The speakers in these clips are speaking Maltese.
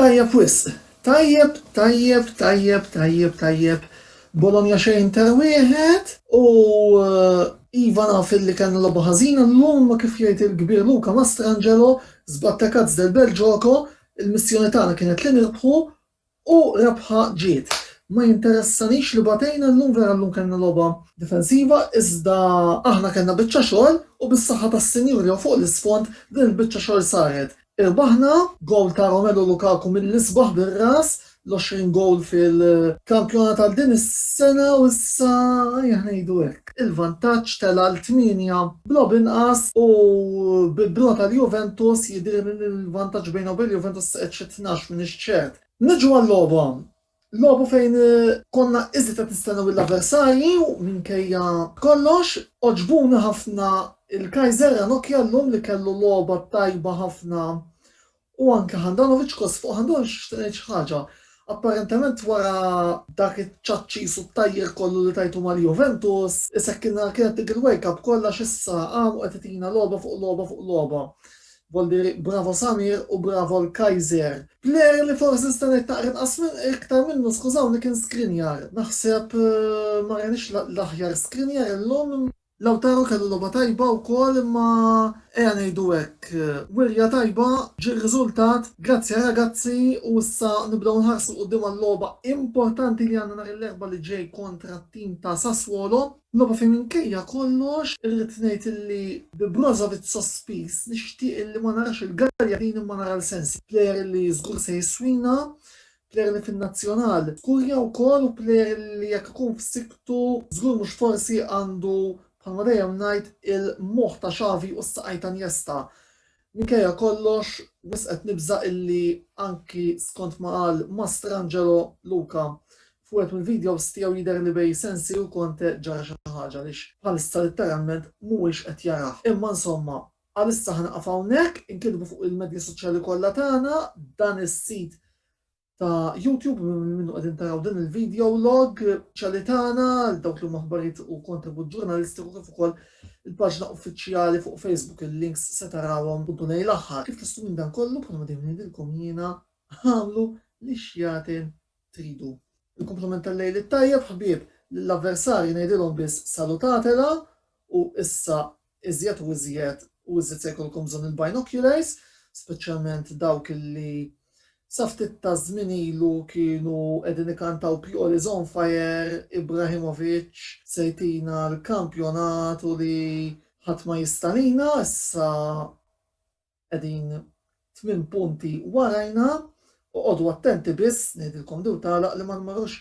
Tajjeb wisq. Tajjeb, tajjeb, tajjeb, tajjeb, tajjeb. Bologna xejn ta' wieħed u eh, Iva naf li kan lobu ħażina l-lum ma kif jgħid il-kbir Luka Mastrangelo zbatta kazz del bel ġoko, il-missjoni tagħna kienet li nirbħu U rebħa ġiet. Ma jinteressanix li batejna llum, vera llum kellna logħba difensiva iżda aħna kellna biċċa xogħol u bis-saħħa tas-Sinjur jew fuq l-isfond din il-biċċa xogħol saret. Irbaħna, gowl ta' Romelu Lukaku mill-isbaħ bir-ras, l-20 gowl fil-kampjonat għal din is-sena u issa aħna ngħidu hekk. Ġack. Il-vantaġġ tela' l tmienja b'logħob inqas u bi bro tal-Juventus jidhirli li l-vantaġġ bejn u bejn l-Juventus qed xi tnax minn ix-xed. Niġu għal-logħba. Logħbu fejn konna iżjed qed nistennew lill-avversarji u minkejja kollox għoġbuni ħafna l-Kaiser Ranocchia llum li kellu logħba tajba ħafna U anke Handanovic kos fuq Handanovic nixtieq ngħid xi ħaġa. Apparentement wara dak iċ-ċaċċis u t-tajjir kollu li tajtu mal-Juventus, isekkilna l-kien qed il-wake up kollha għax issa qam u qed itina logħba fuq logħba fuq logħba. Boldieri, bravo Samir u bravo l-Kaiser. Player li forsi nista' ngħid naqra inqas iktar minnu skużawni kien Skriniar. Naħseb ma rajniex l-aħjar Skriniar illum. Lautaro kellu logħba tajba wkoll imma ejja ngħidu hekk, wirja tajba ġie r-riżultat grazzi għal ragazzi u issa nibdew nħarsu 'l quddiem għal-logħba importanti li għandna nhar il-Erbgħa li ġej kontra t-tim ta' Sassuolo. Logħba fejn minkejja kollox irrid ngħid illi bi Brozovic sospiż nixtieq illi ma narax il-Gagliardini imma nara l-Sensi, plejer illi żgur se jiswina Plejer li fin-Nazzjonal żgur jew gol u plejer li jekk ikun f'sikktu żgur mhux forsi għandu bħalma dejjem ngħid il-moħħ ta' Xavi u s-saqajn ta' Niesta. Minkejja kollox wisq qed nibża' illi anki skont ma qal Mastrangelo Luca f'wieħed mill-videos tiegħu jidher li bejn Sensi u Conte ġara xi ħaġa għaliex bħalissa litteralment mhuwiex qed jarah. Imma insomma Għalissa ħa nieqaf hawnhekk, inkitbu fuq il-medja soċjali kollha tagħna dan is-sit ta' YouTube minn minnu qegħdin taraw din il-video log ċali tagħna għal dawk li huma aħbarijiet u kontribut ġurnalistiku kif ukoll il-paġna uffiċjali fuq Facebook il-links se tarawhom puntu lejn l-aħħar. Kif tistgħu minn dan kollu bħal ma dejjem ngħidilkom jiena għamlu li xjatin tridu. Il-kumplament tal-lejl it-tajjeb ħbieb lill-avversarji ngħidilhom biss salutatela u issa Iżjed u iżjed u iżjed se jkollkom bżonn il-binoculars, speċjalment dawk li sa ftit taż-żmien ilu kienu qegħdin ikantaw Pioli is on fire, Ibrahimovic se jtina l-kampjonat u li ħadd ma jista' lina, issa Qegħdin tmien punti warajna, oqogħdu attenti biss, ngħidilkom din u tagħlaq, li ma tmorrux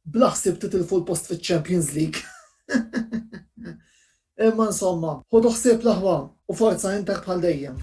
bla ħsieb titilfu l-post fiċ-Champions League. Imma insomma, ħudu ħsieb l-aħwa u forza Inter bħal dejjem.